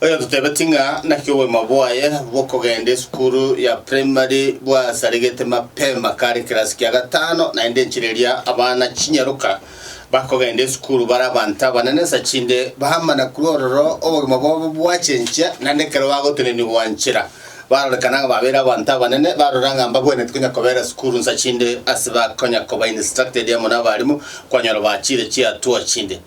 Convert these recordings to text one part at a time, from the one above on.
Oyototebetie ng'a naki obogima bwaye bw'okogenda esukuru ya primary bwasaregete mapema kare ekerasi kia gatano, naende enchera eria abana chinyaroka bakogenda esukuru bare abanto abanene sa chinde baamana korwa ororo obogima bwabo bwachenchia, naende ekero bagotenenigwa nchera barorekana ng'a babeire abanto abanene, barora ng'a mbagwenereti konya kobera esukuru sa chinde ase bakonya koba instructed amo nabarimu, kwanyora bachire chiatua chinde.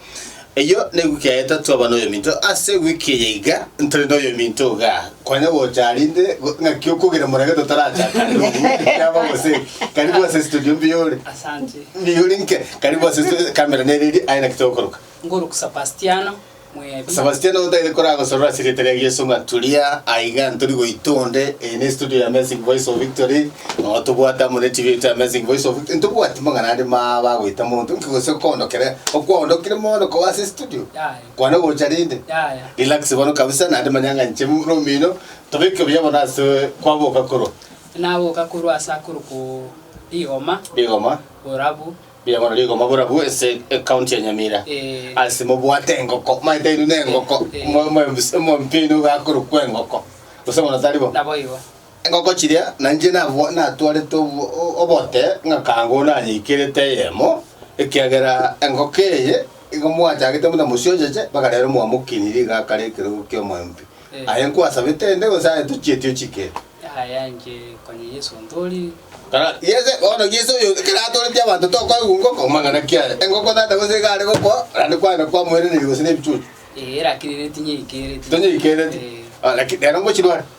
Eyio newiiki ya getato twaba noyominto. Ase ewiiki eye iga ntari noyominto iga, konya gocha aria inde go- ng'aki okogera morage totarachaka ande obuya, ekiabo gose karibu ase studio mbuya ore. Asante. Mbuya ore inke, karibu ase studio, camera nere eria, aye naki togokoroka. Ngoruku Sebastiano Mwebi. Sebastiano gotaete koragosorora ase erieta ria Yeso ng'a turia aiga ntori goita onde, eye ne studio ya Amazing Voice of Victory. Nonya tobwate amo ne chibere chia Amazing Voice of Uganda, ntobwati mang'ana ande ma bagoeta monto inki gose okoondokera, okwaondokire mono koba ase estudio, Yaya. kwane gocha rinde, Yaya. relax bono kabisa naende manya ng'a inche buna omino, tobeke buya bono ase kwaboka korwa Naboka korwa ase akorokoo Rigoma, Rigoma, Borabu, buya bono Rigoma borabu ase ecounty ya Nyamira, Eh. ase mobwate engoko, maete aino na engoko, Eh. mwa- mwa- mwa- mwampia aino iga akorokwa engoko, gose bono tari bo? naboigo. Engoko chiria nainche natwarete obote ng'akanga onde anyaikerete eyemo, ekiagera engoko eye igo mwachagete buna mosioncheche, mpaka rero mwamokinie rigaka riekerogo ki'omoembi. Aye nkwasabete ende, gose aye tochieti ochikete. Yaya inche konya Yesu ontoorire. Tara, Yesu, bono Yesu oyo ekero atooretie abanto tokoigwa ngoko amang'ana ki aye? Engoko tata gose iga are gokwa, naende kwagenda kwamoiraneria gose nebichuchu? Ee, lakini nere tinyaikereti. Tonyaikereti? Ee. Lakini rero ngochirware?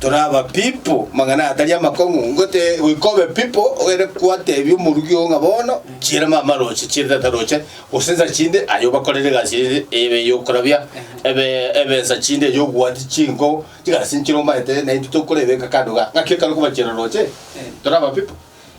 Tore aba pipo mang'ana atari amakong'u, ngote goika obe pipo ogende kwatebia omorugi oo ng'a bono nchiire mama roche, chiire tata roche, gose nsa chinde aye obakorere egasi ere ebe yokorabia ebe ebe nsa chinde eyo ogwati chinko chigasi nchire omanyete naintwe tokoreba ekakado igaa. Ng'aki ekero okobachiera roche? Tore aba pipo.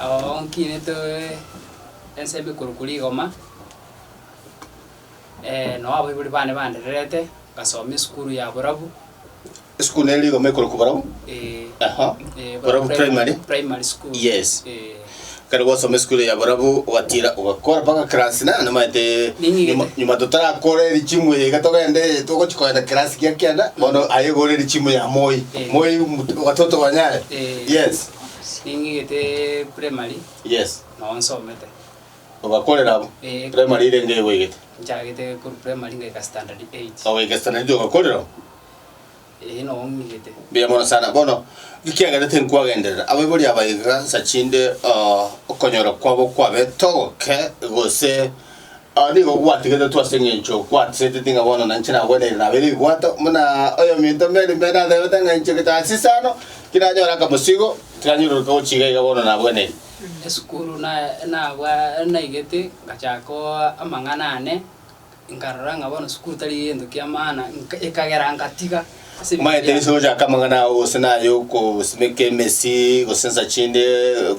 Ao nkinete ensemo korokwa rigoma, nao abaibori bane bandererete, ngasoma esukuru ya borabu. Esukuru nere rigoma ekorokwa borabu? Ee. Aha. Ee, Borabu Primary? Primary school. Yes. Ee. Kare gwasoma esukuru ya borabu ogatiira ogakora mpaka class nane namaete Ninyigete. nyuma- nyuma totarakore richimu eye iga togende togochi koenda class gia kianda bono aye gore richimu ya moi Ee. moi mtu- watoto wanyare Ee. yes Ning'igete primary Yes. nao nsomete. Ogakorera abwo? Eh. Primary ire enga egwegete? Nchagete korwa primary ngaika standard eight. Ogoika standard eight ogakorera oo? Eh nao ng'igete. Mbuya mono sana bono ekiagera tinkwagenderera abaibori aba iga nsa chinde ah, okonyora kwabo kwabe togoke gose Ao nigo gwatigetetwe ase engencho kwatiseteti ng'a bono nainche nagwenerire nabe ribwato, buna oyominto Mary Mary ateebete ng'a inche getasisa ano, tinanyore akamosigo, tiranyororoka gochia iga iga bono nagwenerire. Esukuru na nabwa naigete ngachaaka oo amang'ana ane, nkarora ng'a bono sukuru tari egento kiamaana, nka ekagera ngatiga. Maete Yeso gochaka amang'ana ao, gose naye okosimeka emesi, gose ensa chinde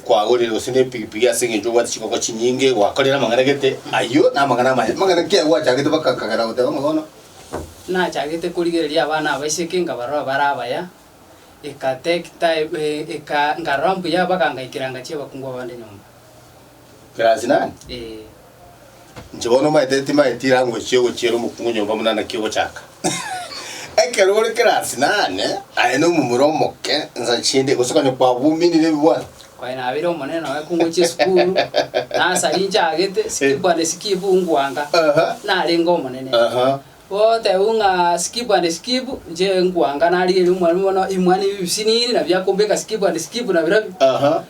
kwagorire, gose nepigipigi ase engencho obwate chingoko chinyinge, gwakorire amang'ana gete, ayio namang'ana amaye. Amang'ana ki ayio gwachagete baka akagera goteba ng'a bono, Nachagete korigereria abana aba iseke nkabarora bare abaya, eka take time, eh, eka nkarora mbuya bakangaikera ngachia abakungu abande nyomba. Class nani? Eh. Inche bono omanyete timaeti language yogochiera omokungu nyomba buna naki ogochaka. Ekero ore class nane, aye na omomura omoke, ensa chinde, gose konya kwabuminire ebibwana. Kwaye nabeire omonene oye kungochia esukuru, nasari nchagete, skip and skip nkwanga, Aha. narenge omonene. Aha. Gotebwa ng'a skip and skip, inche nkwanga narigeria omwalimu bono imwani ebi bisinini, nabiakombeka skip and skip nabirobio. Aha.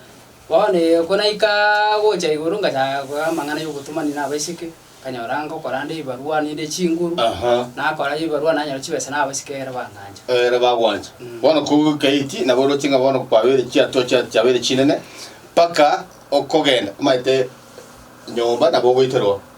Bono iko naika gocha igoro ngachaka koiga amang'ana y'obotomani na abaiseke, nkanyora ngokoranda ebibarua naende chinguru, Aha. nakora ebibarua nanyora chibesa na abasike ere bangancha. Ere bagwancha. Mm. Bono kogoika eki nabo oroche ng'a bono kwabeire chiatua chia- chiabeire chinene, mpaka okogenda omaete nyomba nabo ogoikerwa.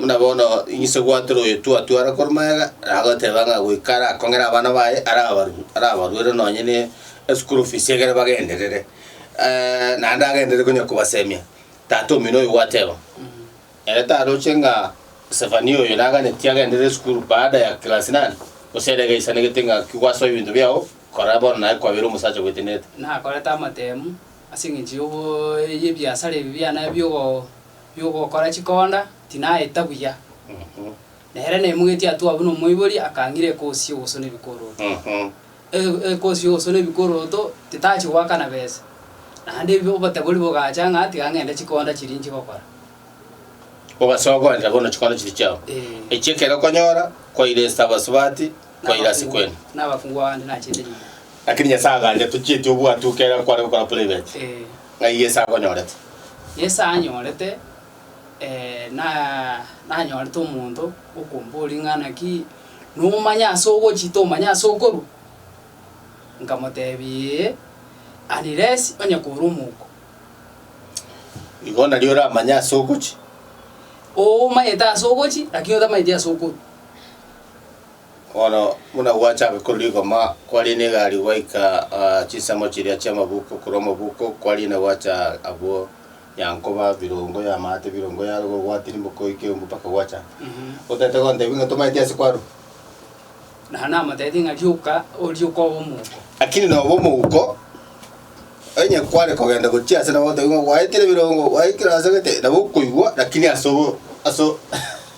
Buna bono inse gwatora oyotwatwara korwa magega, nagoteba ng'a goika arakong'era abana baye arabaru arabaruere nonye ne eschool fees egere bagenderere. naende agenderere konya kobasemia, tata omino oyo gwateba ere taroche ng'a Sefania oyo naganeti agenderere esukuru baada ya class nane, gose ere iga aisanegete ng'a ki gwasoa ebinto biago, kora bono naye kwabeire omosacha gwetenenete. Nakorete amatemu ase eng'encho yogo y'ebiasara ebi biane biogo. y'ogokora chikonda tinaeta buya. Nere naimogetie atwo abwo nomoibori akang'ira ekosi y'ogosona ebikoroto. E- Ekosi y'ogosona ebikoroto titachi goakana besa. Naende ebi obotebori bogacha ng'a tiga ng'ende chikonda chiria nchigokora. Ogasoa goenda gono chikonda chiria chiao. Eh. Echio ekero okonyora kwaire esita abasubati Koira ase kwene. Lakini Nyasae agancha tochieti obwatu oke ere akware gokora private. Ng'ai Yeso akonyorete? Yeso anyorete, eh, na, nanyorete omonto okomboria ng'a naki nomanya ase ogochia tomanya ase okorwa? Nkamotebia ee, unless onye kore omouko. Igo nari oramanye ase ogochia? Oo omanyete ase ogochia, lakini otamanyeti ase okorwa. Bono buna gwachabe korwa rigoma, kwariina egari gwaika ah, chisemo chiria chi'amabuko, korwa amabuko kwariina gwacha abwo yankoba birongo y'amaate, birongo yaruga ogwati rimboko ekeumbu mpaka gwacha. Otete gontebia ng'a tomaeti ase kwarwa. Na namoteete ng'a rioka, orie okoba omouko. Lakini noba omouko, onye kware kogenda gochia ase nabo otebia ng'a gwaetire birongo, gwaikire ase gete, nabo okoigwa, lakini ase obo- ase o-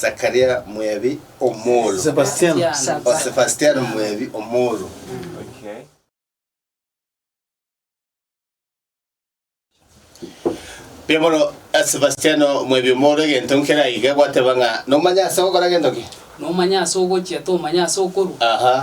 Sakaria mwebi omolo. Sebastiano. O Sebastiano mwebi omolo. Mbuya mono eh, Sebastiano mwebi omolo egento nkere aiga gwateba ng'a nomanya ase ogokora egento ki? nomanya ase ogochia tomanya ase okorwa Aha.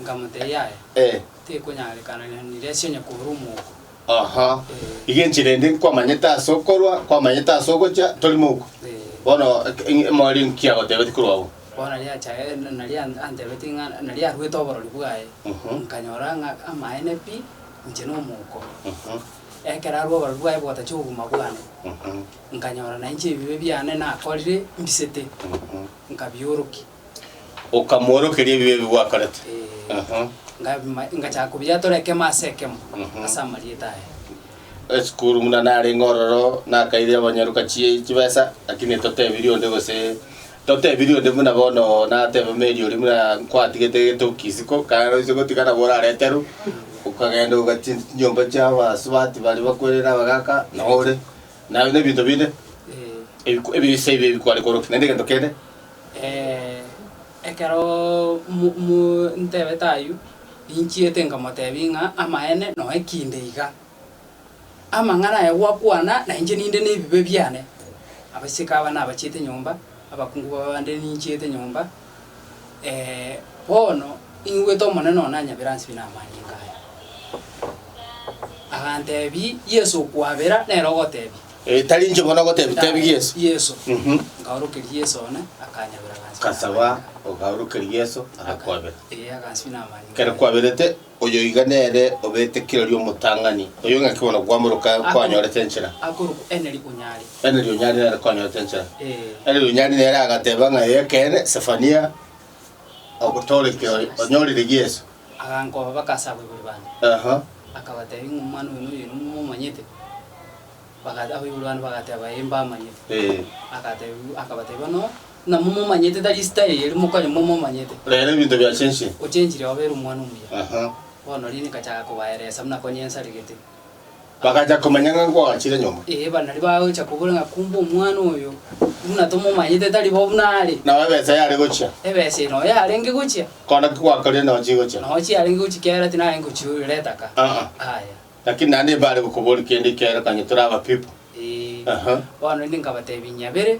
nkamotebia yaya Eh. Tekonyarekana na niresi onye korwa omouko. Aha, Ee. iga enchera ende nkwamanyete ase okorwa, kwamanyete ase ogocha, tori mouko. Ee. Bono eke- eng- emori nki agotebetie korwa agwo? Bono nari acha eh, na- nari an- antebetie ng'a nari arwete oborori bwaye, Mhm. nkanyora ng'a amaene pi, inche nomouko. Mhm, Ekero arwa oborori bwaye bogotachia obogima bwane, mhm, nkanyora nainche ebibe biane nakorire mbisete, mhm, nkabiorokia. Okamoorokeria ebibe ebi gwakorete. Ee, Aha. ngabima- ngachaka kobiyatora ekemo ase ekemo Mhm. ase amarieta aye. Esukuru buna narenge ororo nakaire abanyaruka chie chibesa lakini totebirie onde gose totebirie onde buna bono natebe Mary oria buna nkwaatigete getokisi ko kare oise gotiga nabo orareterwe okagenda ogachia chinyomba chia abasubati baria bakwerere abagaka nore naye na ebinto binde Ee. ebiku ebise ebi ebikware korokia naende egento kende. Ekero montebete ayio, ninchiete nkamotebia ng'a amaene noe kinde iga. Amang'ana aye gwakwana na inche ninde nebibe biane. Abasike aba nabachiete nyomba, abakungu baba bande ninchiete nyomba, bono ingwete Omonene onanyabera ase buna amanyinga aya. Agantebia, Yeso okwabera nere ogotebia. Eh, tari inche bono ogotebi tebi Yesu. Yeso. Mhm. Nkaorokeria Yeso one, akanyabera agansi. Kasaba okaorokeria Yeso agakwabera. Ee, agansi namanya. Kere kwaberete oyo iga nere obete kirori omotang'ani. Oyo ng'aki bono kwamoroka kwanyorete enchera. Akorokwa Eneri Onyari. Eneri Onyari nere kwanyorete enchera. Ee. Eneri Onyari nere agateba ng'a ekeene Sefania ogotore kirori onyorire Yeso. Agankoba bake ase abaibori bane, akabatebia ng'a omwana oyo noyo inwe momomanyete? Baga- abaibori bane bagateba, Ee, mbamanyete. Agatebia- akabatebia, Bono namomomanyete, tari esita eye ere mokonye momomanyete, Rero ebinto biachenchire. ochenchire obe ere omwana omuya. Aha. Bono riria nkachaka kobaeresa buna konya ensaregete, Bagacha komanya ng'a nkwagachire nyomba. Ee, banaria bagocha kobora ng'a kumbe omwana oyo buna tomomanyete tari bo buna are. Nao ebesa yare gochia. Ebesa eye noyo yarenge gochia. Kona ki gwakorire nao chigochia? Nao chiarenge gochia kiagera tinarenge gochioirera etaka. Aa. Aya. Lakini naende mbare gokobori kende ikerokanye tore abapipo. Ee. Aha. Bono inde nkabatebia inyabere.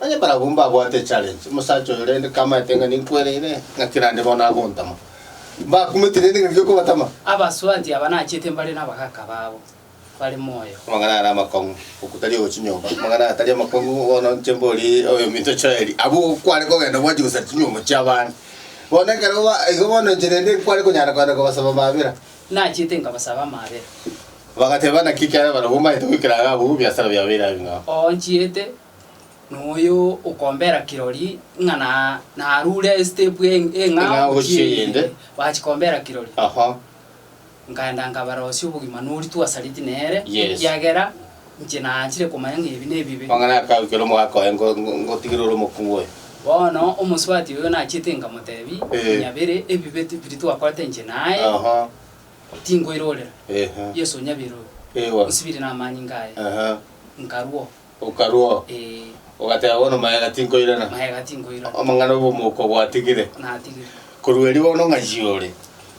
Onye barabwo mbabwate echallenge, omosacha oyo rende kamaete ng'a ninkwereire ng'a kera aande bono agontama, mbakumete rende ngaki okobatama. Abaswaanti aba nachiete mbare nabagaaka babo bare moyo. Amang'ana are amakong'u, okutari ogochinyomba. Amang'ana atari amakong'u, bono inche mbori oyominto Joeli, abwo kware kogenda gwancha gosara chinyomba chi'abande. Bono ekero ba igo bono inche rende nkware konyara kogenda kobasaba mabera. Nachiete nkabasaba amaabera. Bagateba, Naki ekiagera barabwo mbaete goikera iga abwo, ebiasara biabo birabe bing'ao. Oonchiete, noyo okombera kirori ng'a na narure estep e eng'ao gochia eyende, bachikombera kirori. Aha. Nkaenda nkabarosia obogima noritwe asareti nere, Yes. ekiagera. Inche naachire komanya ng'a ebi nebibe. Amang'ana aya akagwa ekero omogaka oye ngotigire ore omokong'u oye. Bono omosubati oyo nachiete nkamotebi, Muna bire ebibe biria twakorete inche naye, tinkoirorera. Yeso onyabere oyo, onsibire namanyinga aye, nkarua. Okarua? Ee. Ogateba bono, Magega tinkoirana? Magega tinkoirana. Amang'ana obomoko bwatigire? Natigire. Korwa erio bono ng'ai ore?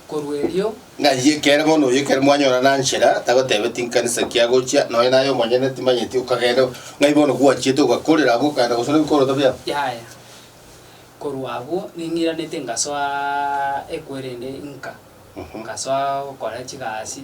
korwa erio. Ng'ai ekere bono oyo ekero mwanyora nanchera tagotebe tinkanisa ki agochia, nonya naye omonyene timanyeti okagenda, ng'ai bono gwachiete ogakorera abwo okagenda gose nebikoroto biabo? Yaya. Korwa abwo ning'iranete ngasoa ekwerende inka, ngasoa gokora chigasi,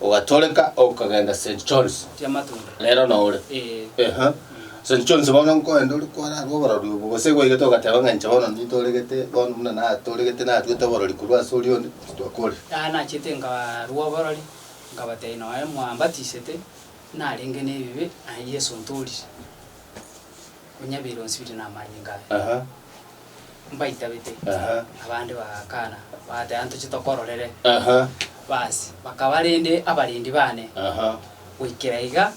Ogatoreka okagenda St. John's. Rero nore. Eeh. St. John's bono nkoenda ore kwararwa oborori obo gose gwaigete ogateba ng'a inche bono nitoregete bono buna natoregete narwete oborori korwa ase oria onde, titwakorire. Aya nachete nkarwa oborori nkabatebia nonya mwambatisete narenge nebibe aye Yeso ntorire. Onyabeire onsibire namanyinga aya. Aha. mbaitabete, Aha. abande bagakana, bagateba, Ntoche tokororere. Aha. Basi, bakaba rende abarendi bane. Aha. Goikera iga,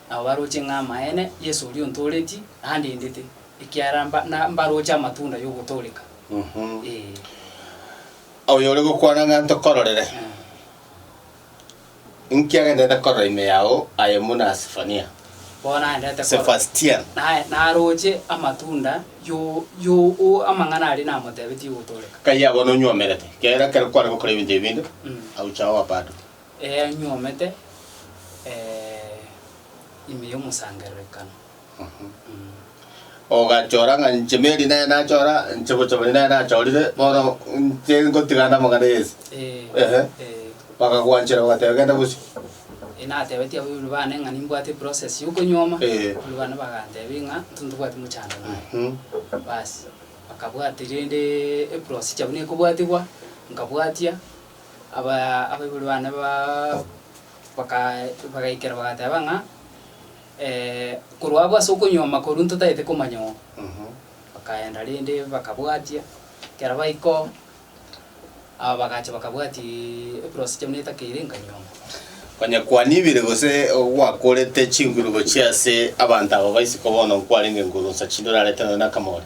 nabo baroche ng'a amaene Yeso oria ontooretie, nandendete, ekiagera mba- na- mbaroche amatunda y'ogotooreka. Mhm. Ee. Oyore gokwana ng'a ntokororere. Eh. Inki agenderete korora ime yao aye buna Sefania? Bono nagenderete korora. Sebastian. Naye naroche amatunda y'amang'ana aria namotebetie gotooreka. Kaiaa bono onywomerete, ekiagera ekero kware gokora ebinto ebi binde, aucha oa bado. Ee, nywomete ime y'omosangererekano. Ogachora ng'a inche Mary nere nachora, inche Bochomani nere nachorire, bono inche ngotiga namang'ana yonsi. Ehe. Bakagwanchera bagateba genda gosio. Natebetie abaibori bane ng'a nimbwate eprocess y'okonyuoma, Eh. abaibori bane bagantebia ng'a intwe ntobwati mochando naye. Mhm. Basi, bakabwati rende eprosicha buna ekobwatigwa, nkabwatia, abaa abaibori bane baa baka bagaikera bagateba ng'a. Korwa abwo ase okonyuoma korwa ntotagete komanya oo, bakaenda rende bakabwatia, ekero baika oo, aba bagacha bakabwatia eprosi chiabo netakeire nkanyuoma. Onye kwanibire gose gwakorete chinguru gochia ase abanto aba ba isiko bono nkwarenge nkoru nsa chinde orarete nonya nakamori,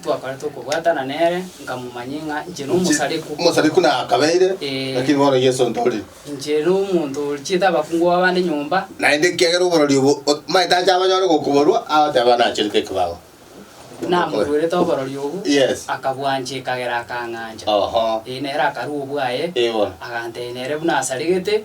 Ntwakorete okobwatana nere, nkamomanyia ng'a inche nomosareku. Omosareku na akabeire, Ee. lakini bono Yeso ntorire. Inche nomonto orichiete abakungu b'abande nyomba. Naende ekiagera oborori obo omaete ache abanyore gokoborua, agoteba, Nacherete ekebago. Namoruerete oborori obwo, Yes. akabwancha ekagera akang'ancha. Oho. Ee, nere akarua obwaye, Ee, bono. agantebia nere buna asaregete,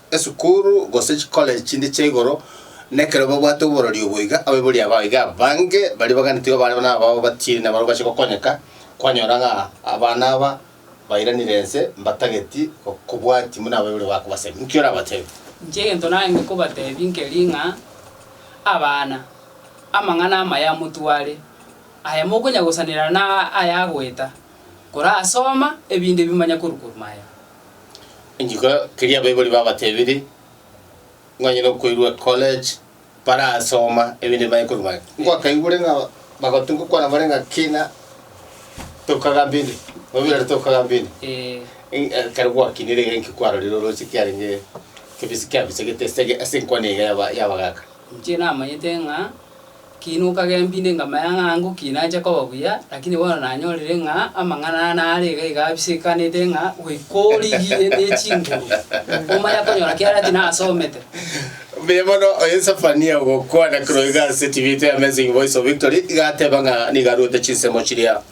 Esukuru gose chikoleji chinde chia igoro, na ekero babwate oborori obo iga, abaibori aba iga abange baria baganetigwe barabwo nabao batiiri nabarabwo bache gokonyeka, kwanyora ng'a abana aba bairanire ense mbatageti kobwati buna abaibori babo bakobasemia. Inki orabatebie? Inche egento naende kobatebia nkeri ng'a, abana, amang'ana amaya motware, aya mokonya gosanera na aya agoeta, korasoma, ebinto ebi manya korwa korwa maya. Rituko keria abaibori babatebire, Mwanye nokoirwa ecollege, barasoma ebinto bimanye korwa mware. Ngokaigure ng'a bagoteba gokwana bare ng'a kina tokagambia inde, obirore tokagambia inde. Ee, ekero gwakinire iga inki kwarorire oroche kiarenge kebisa kiabisegete ase ase enkwana iga yaba- yabagaka? Inche namanyete ng'a Kiina okagembia inde nkamanya ng'a ango ki nache koba buya, lakini bono nanyorire ng'a amang'ana aa nare iga iga abisekanete ng'a goika origie ne chinguru, omanye akonyora kiaria tinasomete. Mbuya mono, oye Sefania ogokwana kero iga ase tibitwe ya Amazing Voice of Victory, iga ateba ng'a nigo arwete chinsemo chiria.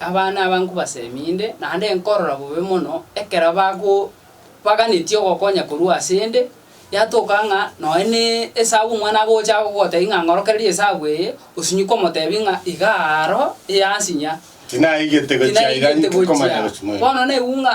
Abana aba nkobasemi inde, naende nkorora bobe mono ekero bago baganetie ogokonya korwa ase 'nde, yatoka ng'a nonya ne esabu omwana agocha gogotebia ng'a ng'orokererie esabu eye, osinyi komotebia ng'a iga aro eyansinya. Tinaigete gochia iga inki komanya gochia moyo. Bono naigwe ng'a.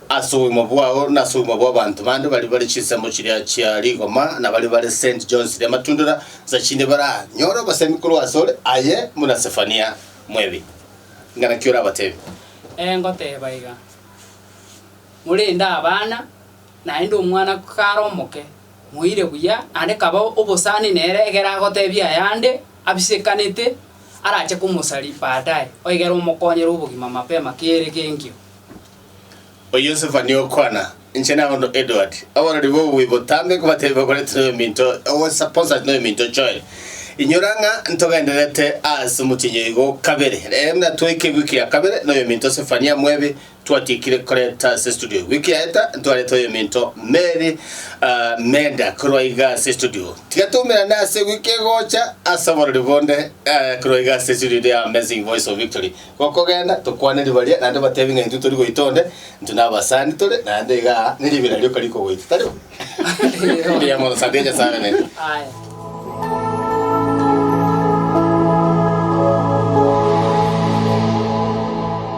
Ase obogima bwao na ase obogima bw'abanto bande baria bare chinsemo chiria chia rigoma na baria bare Saint John's ri'Amatundora, nsa chinde baranyore obosemi korwa ase ore, aye buna Sefania mwebi. Ing'ana ki orabateebie? Ee, ngoteeba iga, Morende abana, naende omwana kare omoke, moire buya, naende kaba obosani nere egere agoteebie ayande abisekanete arache komosaria baadaye, oigere omokonyere obogima mapema kere genkio. O Yosefu nigo okwana, Inche na ondo Edward, abarori b'obuya botambe nkobateebie bakoreti noyominto owe Saposati noyominto Joel, inyora ng'a ntogendererete ase omotienyi oigo kabere. Rero natweike wiki ya kabere noyominto Sefania Mwebi twatiekire koreta ase estudio. Wiki yaeta ntwarete oyominto Mary Menda korwa iga ase estudio. Tiga toumerane ase wiki egocha ase oborori bonde korwa iga ase estudio The Amazing Voice of Victory Gokogenda, tokwane riba ria, naende batebi ng'a intwe tori goita onde, intwe nabasani tore, naende iga aa neriba ira rioka rikogoita, tari bo? Eria mono sande ya Nyasae abe naintwe. Aye.